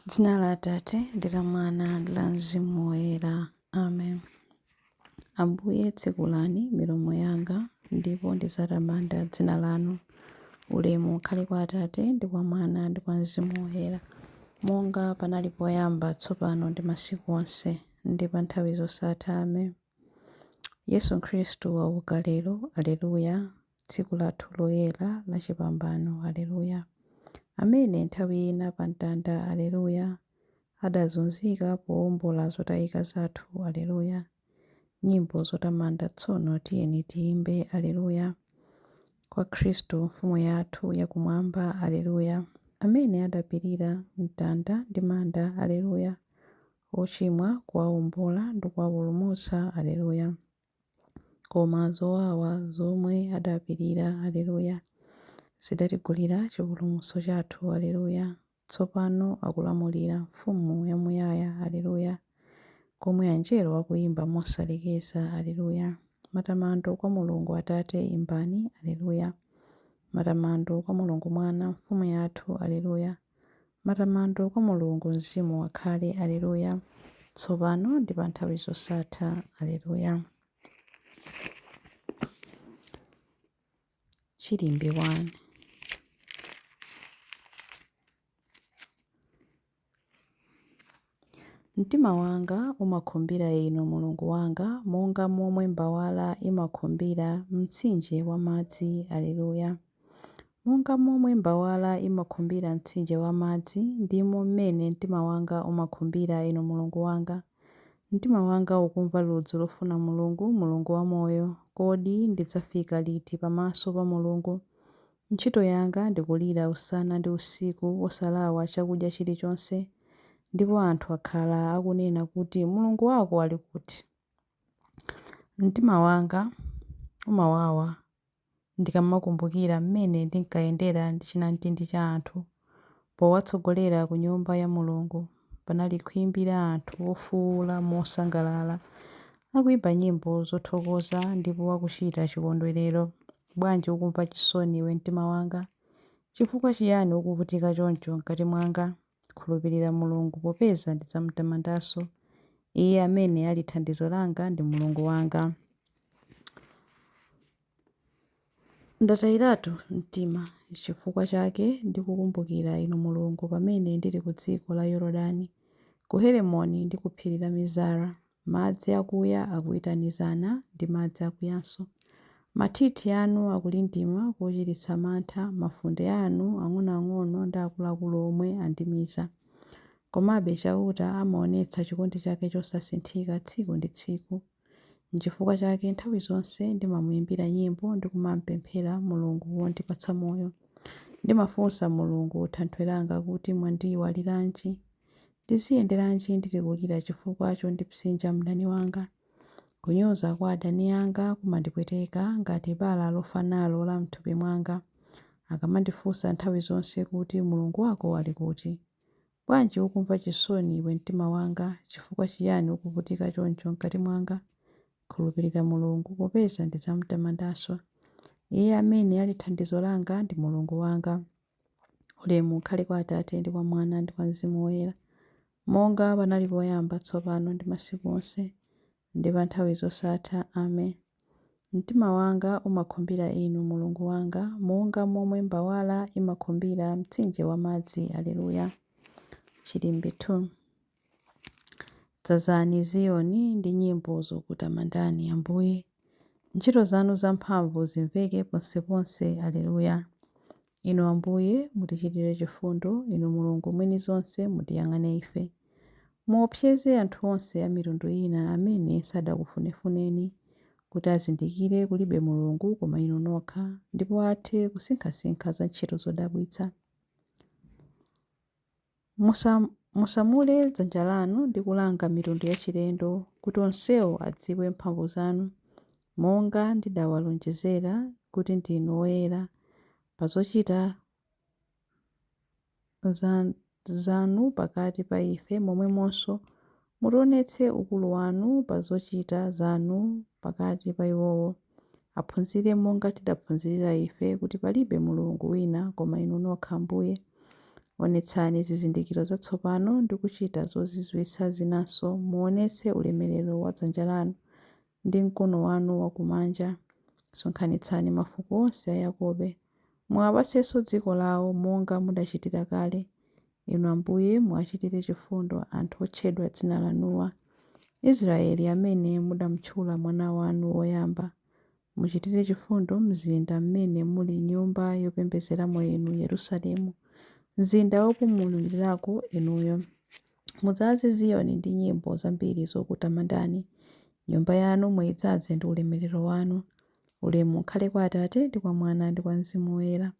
Dzina la Atate ndi la Mwana ndi la Mzimu Woyera. Amen. Ambuye tsekulani milomo yanga ndipo ndidzatamanda dzina lanu. Ulemu ukhale kwa Atate ndi kwa Mwana ndi kwa Mzimu Woyera, monga panali poyamba, tsopano ndi masiku onse, ndi pa nthawi zosatha. Amen. Yesu Khristu wauka lero. Aleluya. Tsiku lathu loyera la chipambano, Aleluya! Amene nthawi ina pa mtanda, Aleluya! Adazunzika powombola zotayika zathu, Aleluya! Nyimbo zotamanda tsono tiyeni tiyimbe, Aleluya! Kwa Khristu Mfumu yathu ya Kumwamba, Aleluya! Amene adapirira mtanda ndi manda, Aleluya! Ochimwa kuwawombola ndi kuwapulumutsa, Aleluya! Koma zowawa zomwe adapirira, Aleluya, zidatigulira chipulumutso chathu, Aleluya, tsopano akulamulira, Mfumu yamuyaya, Aleluya, komwe Anjelo akuyimba mosalekeza, Aleluya, matamando kwa Mulungu Atate, imbani, Aleluya, matamando kwa Mulungu Mwana, Mfumu yathu, Aleluya, Matamando kwa Mulungu Mzimu akhale, Aleluya, tsopano ndi pa nthawi zosatha. Aleluya. Chilimbi 1. Mtima wanga umakhumbira Inu, Mulungu wanga, monga momwe mbawala imakhumbira mtsinje wa madzi. Aleluya. Monga momwe mbawala imakhumbira mtsinje wa madzi, ndimo mmene mtima wanga umakhumbira Inu Mulungu wanga. Mtima wanga ukumva ludzu lofuna Mulungu, Mulungu wamoyo. Kodi ndidzafika liti pamaso pa Mulungu? Ntchito yanga ndi kulira usana ndi usiku osalawa chakudya chilichonse, ndipo anthu akhala akunena kuti, Mulungu wako ali kuti? Mtima wanga umawawa ndikamakumbukira mmene ndinkayendera ndi chinamtindi cha anthu. Powatsogolera ku Nyumba ya Mulungu, panali khwimbi la anthu ofuula mosangalala, akuimba nyimbo zothokoza ndipo akuchita chikondwerero. Bwanji ukumva chisoni iwe mtima wanga? Chifukwa chiyani ukuvutika choncho mkati mwanga? Khulupirira Mulungu, popeza ndidzam'tamandanso. Iye amene ali thandizo langa ndi Mulungu wanga. Ndatayiratu mtima, chifukwa chake ndikukumbukira Inu Mulungu pamene ndili ku dziko la Yorodani, ku Heremoni ndi ku phiri la Mizara. Madzi akuya akuitanizana ndi madzi akuyanso. Mathithi anu akulindima kochititsa mantha, mafunde anu, ang'onoang'ono ndi akuluakulu omwe, andimiza. Komabe Chauta amaonetsa chikondi chake chosasinthika tsiku ndi tsiku. N'chifukwa chake nthawi zonse ndimamuimbira nyimbo ndi kumam'pemphera Mulungu wondipatsa moyo. Ndimafunsa Mulungu, Thanthwe langa, kuti, Mwandiiwaliranji? Ndiziyenderanji ndili kulira chifukwa chondipsinja mdani wanga? Kunyoza kwa adani anga kumandipweteka ngati bala lofa nalo la m'thupi mwanga. Akamandifunsa nthawi zonse kuti, Mulungu wako ali kuti? Bwanji ukumva chisoni, iwe mtima wanga? Chifukwa chiyani ukuvutika choncho mkati mwanga? Khulupirira Mulungu, popeza ndidzam'tamandanso. Iye amene ali thandizo langa ndi Mulungu wanga. Ulemu ukhale kwa Atate, ndi kwa Mwana, ndi kwa Mzimu Woyera, monga panali poyamba, tsopano, ndi masiku onse. ndi pa nthawi zosatha. Amen. Mtima wanga umakhumbira Inu, Mulungu wanga, monga momwe mbawala imakhumbira mtsinje wa madzi. Aleluya. Chilimbi 2 Dzazani Ziyoni ndi nyimbo zokutamandani, Ambuye, ntchito zanu zamphamvu zimveke ponseponse. Aleluya. Inu Ambuye, mutichitire chifundo, Inu Mulungu mwini zonse, mutiyang'ane ife. Muopseze anthu onse a mitundu ina amene sadakufunefuneni, kuti azindikire kulibe Mulungu koma Inu nokha, ndipo athe kusinkhasinkha za ntchito zodabwitsa. Musa, musamule dzanja lanu ndi kulanga mitundu yachilendo, kuti onsewo adziwe mphamvu zanu, monga ndidawalonjezera kuti ndinu oyera, pa zochita za, zanu pakati pa ife, momwemonso Mutionetse ukulu wanu pa zochita zanu pakati pa iwowo. Aphunzire monga tidaphunzirira ife, kuti palibe Mulungu wina koma Inu nokha Ambuye. Onetsani zizindikiro zatsopano ndi kuchita zozizwitsa zinanso, muonetse ulemelero wa dzanja lanu, ndi mkono wanu wakumanja. Sonkhanitsani mafuko onse a Yakobe. Muwapatsenso dziko lawo monga mudachitira kale. Inu Ambuye, muwachitire chifundo anthu otchedwa dzina lanuwa, Israyeli amene mudamtchula Mwana wanu woyamba. Muchitire chifundo mzinda m'mene muli Nyumba yopembedzeramo Inu, Yerusalemu, mzinda wopumulirako Inuyo. Mudzaze Ziyoni ndi nyimbo zambiri zokutamandani, Nyumba yanu muidzaze ndi ulemerero wanu. Ulemu ukhale kwa Atate, ndi kwa Mwana, ndi kwa Mzimu Woyera.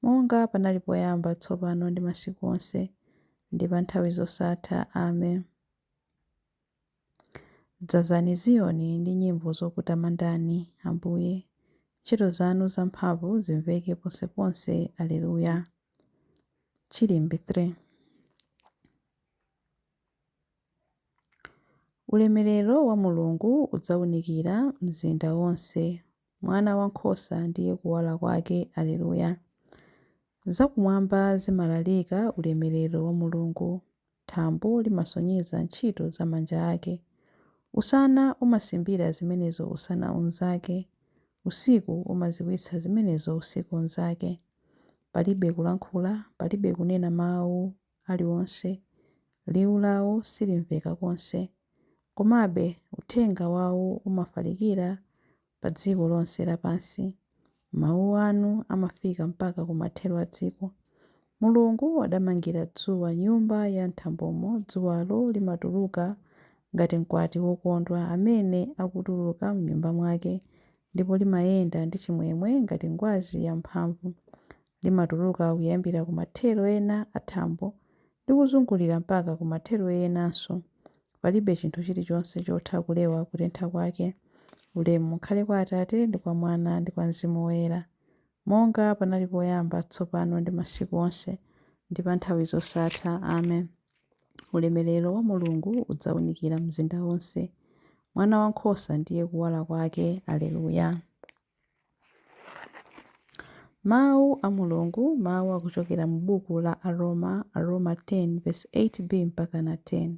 monga panali poyamba, tsopano ndi masiku onse, ndi pa nthawi zosatha. Amen. Dzazani Ziyoni ndi nyimbo zokutamandani, Ambuye, ntchito zanu zamphamvu zimveke ponseponse. Aleluya. Chilimbi 3 Ulemerero wa Mulungu udzaunikira mzinda wonse Mwana Wankhosa ndiye Kuwala kwake. Aleluya! Zakumwamba zimalalika ulemerero wa Mulungu. Thambo limasonyeza ntchito za manja ake. Usana umasimbira zimenezo usana unzake, usiku umadziwitsa zimenezo usiku unzake. Palibe kulankhula, palibe kunena mawu, aliwonse, liwu lawo silimveka konse, komabe uthenga wawo umafalikira padziko lonse lapansi. Mawu anu amafika mpaka kumathero a dziko. Mulungu adamangira dzuwa nyumba ya m'thambomo, dzuwalo limatuluka ngati mkwati wokondwa amene akutuluka m'nyumba mwake, ndipo limayenda ndi chimwemwe ngati ngwazi yamphamvu. Limatuluka kuyambira ku mathero ena a thambo ndi kuzungulira mpaka ku mathero enanso. Palibe chinthu chilichonse chotha kulewa kutentha kwake. Ulemu ukhale kwa Atate, ndi kwa Mwana, ndi kwa Mzimu Woyera. Monga panali poyamba, tsopano ndi masiku onse, ndi pa nthawi zosatha. Amen. Ulemerero wa Mulungu udzaunikira mzinda wonse. Mwana Wankhosa ndiye kuwala kwake. Aleluya. Mawu a Mulungu, mawu akuchokera mu buku la Aroma, Aroma 10 vesi 8 B mpaka na 10.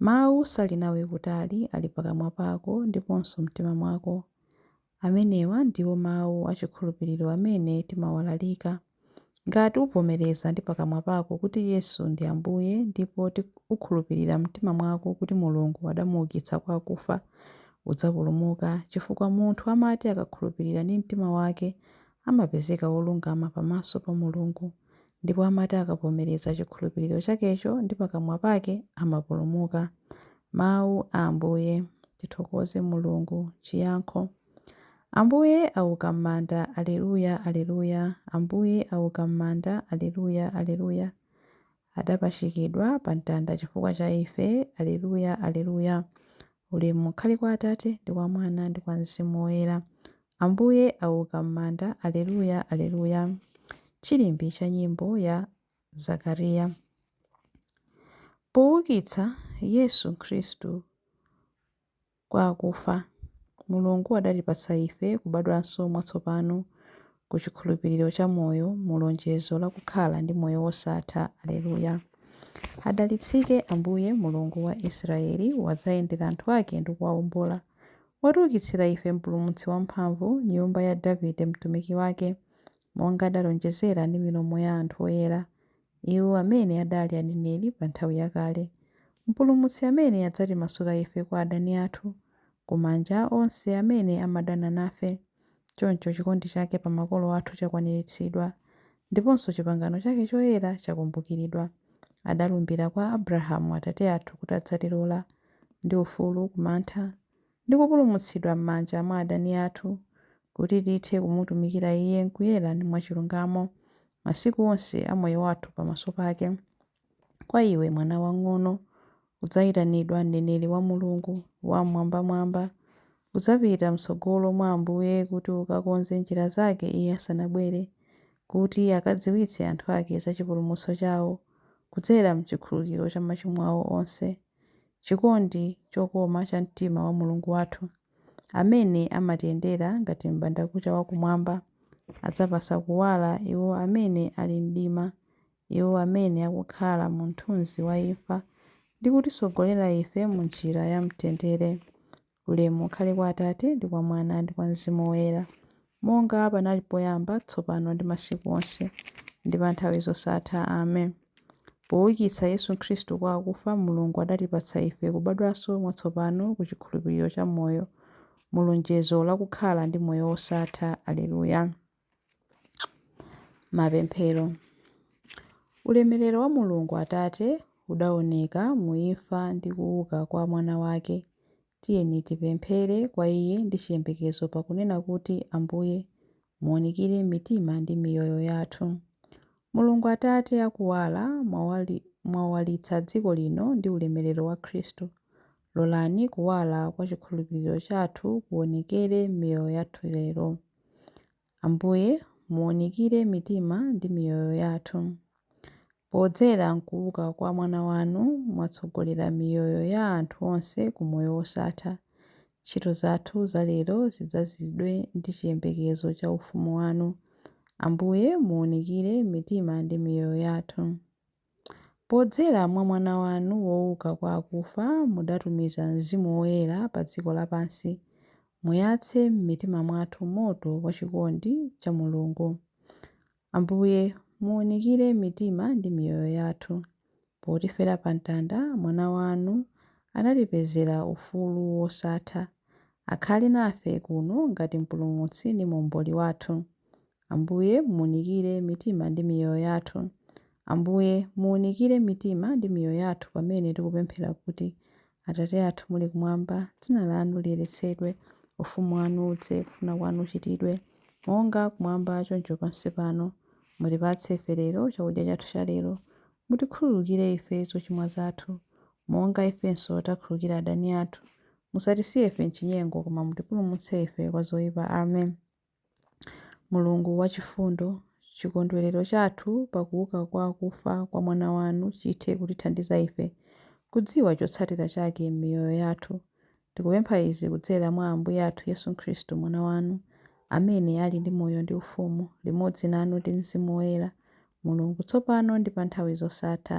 Mawu sali nawe kutali, ali pakamwa pako ndiponso m'mtima mwako. Amenewa ndiwo mawu a chikhulupiriro amene timawalalika. Ngati uvomereza ndi pakamwa pako kuti Yesu ndi Ambuye ndipo ukhulupirira m'mtima mwako kuti Mulungu adamuukitsa kwa akufa, udzapulumuka, chifukwa munthu amati akakhulupirira ndi mtima wake, amapezeka wolungama pamaso pa Mulungu, ndipo amati akavomereza chikhulupiriro chakecho ndi pakamwa pake, amapulumuka. Mawu a Ambuye. Tithokoze Mulungu. Chiyankho. Ambuye auka mmanda Aleluya Aleluya Ambuye auka mmanda Aleluya Aleluya Adapachikidwa pa mtanda chifukwa cha ife Aleluya Aleluya Ulemu ukhale kwa Atate ndi kwa Mwana ndi kwa Mzimu Woyera Ambuye auka mmanda Aleluya Aleluya Chilimbi cha nyimbo ya Zakariya Poukitsa Yesu Khristu kwa akufa. Mulungu adatipatsa ife kubadwanso mwatsopano ku chikhulupiriro cha moyo mu lonjezo la kukhala ndi moyo wosatha. Aleluya! Adalitsike Ambuye, Mulungu wa Israyeli, wadzayendera anthu ake ndi kuwaombola. Watiukitsira ife Mpulumutsi wamphamvu, nyumba ya Davide mtumiki wake, monga adalonjezera ndi milomo ya anthu oyera. iwo amene adali aneneri pa nthawi yakale, Mpulumutsi amene adzatimasula ife kwa adani athu, ku manja a onse amene amadana nafe. Choncho chikondi chake pa makolo athu chakwaniritsidwa, ndiponso chipangano chake choyera chakumbukiridwa. Adalumbira kwa Abrahamu atate athu kuti adzatilola, ndi ufulu ku mantha, ndi kupulumutsidwa m'manja mwa adani athu, kuti tithe kumutumikira Iye m'kuyera ndi mwachilungamo, masiku onse a moyo wathu pamaso pake. Kwa iwe, mwana wamng'ono, udzayitanidwa mneneri wa Mulungu Wam'mwambamwamba. Udzapita m'tsogolo mwa Ambuye kuti ukakonze njira zake Iye asanabwere, kuti akadziwitse anthu ake za chipulumutso chawo, kudzera m'chikhululukiro cha machimo awo onse. chikondi chokoma cha mtima wa Mulungu wathu, amene amatiyendera ngati m'bandakucha wa kumwamba, adzapatsa kuwala iwo amene ali m'mdima, iwo amene akukhala mu mthunzi wa imfa, ndi kutitsogolera ife mu njira ya mtendere. Ulemu ukhale kwa Atate, ndi kwa Mwana, ndi kwa Mzimu Woyera, monga panali poyamba, tsopano, ndi masiku onse, ndi pa nthawi zosatha. Amen. Poukitsa Yesu Khristu kwa akufa, Mulungu adatipatsa ife kubadwanso mwatsopano ku chikhulupiriro cha moyo, mu lonjezo la kukhala ndi moyo wosatha. Aleluya. Mapemphero Ulemerero wa Mulungu Atate udaoneka mu imfa ndi kuuka kwa Mwana wake. Tiyeni tipemphere kwa Iye ndi chiyembekezo pakunena kuti, Ambuye, muunikire mitima ndi miyoyo yathu. Mulungu Atate akuwala, mwawalitsa dziko lino ndi ulemerero wa Khristu. Lolani kuwala kwa chikhulupiriro chathu kuonekere m'miyoyo yathu lero. Ambuye, muwunikire mitima ndi miyoyo yathu. Podzera m'kuuka kwa Mwana wanu, mwatsogolera miyoyo ya anthu onse ku moyo wosatha. Ntchito zathu za lero zidzazidwe ndi chiyembekezo cha ufumu wanu. Ambuye, muwunikire mitima ndi miyoyo yathu. Podzera mwa Mwana wanu wouka kwa akufa mudatumiza Mzimu Woyera pa dziko lapansi, muyatse m'mitima mwathu moto wa chikondi cha Mulungu. Ambuye, muunikire mitima ndi miyoyo yathu. Potifera pa mtanda, Mwana wanu anatipezera ufulu wosatha. Akhale nafe kuno ngati Mpulumutsi ndi Muomboli wathu. Ambuye, muunikire mitima ndi miyoyo yathu. Ambuye, muunikire mitima ndi miyoyo yathu pamene tikupemphera kuti, Atate athu muli kumwamba, dzina lanu liyeretsedwe, ufumu wanu udze, kufuna kwanu kuchitidwe, monga kumwamba choncho pansi pano. Mutipatse ife lero chakudya chathu cha lero. Mutikhululukire ife zochimwa zathu, monga ifenso takhululukira adani athu. Musatisiye ife m'chinyengo, koma mutipulumutse ife kwa zoipa. Amen. Mulungu wachifundo, chikondwerero chathu pa kuuka kwa akufa kwa Mwana wanu chithe kutithandiza ife kudziwa chotsatira chake m'miyoyo yathu. Tikupempha izi kudzera mwa Ambuye athu Yesu Khristu, Mwana wanu, amene ali ndi moyo ndi ufumu limodzi nanu ndi Mzimu Woyera, Mulungu, tsopano ndi pa nthawi zosatha.